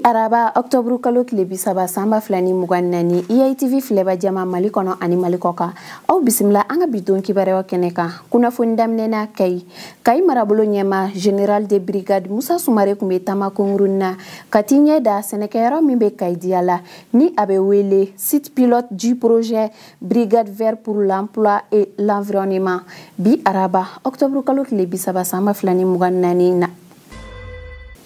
araba ɔktɔburu kalo tile bi saba san ba fila ni mugan naani eitv filɛbaa jama mali kɔnɔ ani mali kɔkan aw bisimila an ka bi don kibaruyaw kɛnɛ kan kunnafoni daminɛna kayi kayi marabolo ɲɛmaa general de brigade musa sumare tun bɛ taama kunkurunnin na ka t'i ɲɛ da sɛnɛkɛyɔrɔ min bɛ kayi diyala ni a bɛ wele site pilote du projet brigade verte pour l'emploi et l'environnement bi araba ɔktɔburu kalo tile bi saba san ba fila ni mugan naani na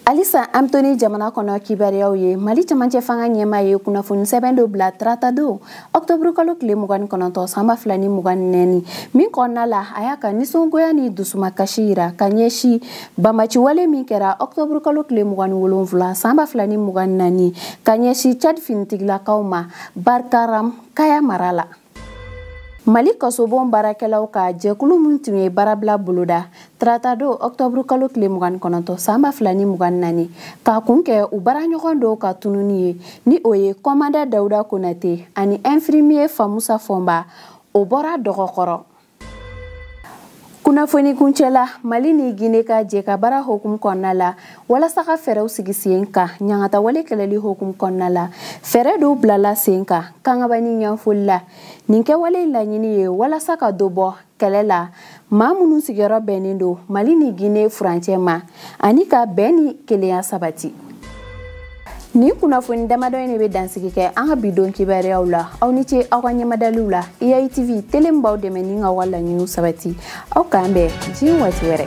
alisa an to ni jamana kɔnɔ kibaruyaw ye mali camancɛ fanga ɲɛmaa ye kunnafoni sɛbɛn dɔ bila tarata don ɔktɔburu kalo tile mugan ni kɔnɔntɔn san ba fila ni mugan ni naani min kɔnɔna la a y'a ka nisɔngoya ni dusumakasi yira ka ɲɛsi banbaanciwale min kɛra ɔktɔburu kalo tile mugan ni wolonfila san ba fila ni mugan ni naani ka ɲɛsi cad finitigilakaw ma barkaram kaya mara la mali kasobon baarakɛlaw ka jɛkulu min tun ye baarabila boloda taratadon ɔktɔburu kalo tile mugan kɔnɔntɔn san ba fila ni mugan naani k'a kun kɛ u baaraɲɔgɔn dɔw ka tununi ye ni o ye kɔmandan dawuda konate ani ɛnfirimiye famusa fɔnba o bɔra dɔgɔ kɔrɔ kunnafoni kuncɛ la mali ni gine ka jɛkabaara hukumu kɔnɔna la walasa ka fɛɛrɛw sigi sen kan ɲangatawale kɛlɛli hukumu kɔnɔna la fɛɛrɛ dɔw bilala sen kan kangaba ni yanfolila nin kɛwale laɲini ye walasa ka dɔ bɔ kɛlɛ la maa minnu sigiyɔrɔ bɛnnen don mali ni gine furancɛ ma ani ka bɛn ni kelenya sabati nin kunnafoni damadɔ in de bɛ dansigi kɛ an ka bi don kibaruyaw la aw ni ce aw ka ɲɛmadaliw la iai tv tele min b'aw dɛmɛ ni k'aw ka laɲiniw sabati aw k'an bɛn diɲɛ waati wɛrɛ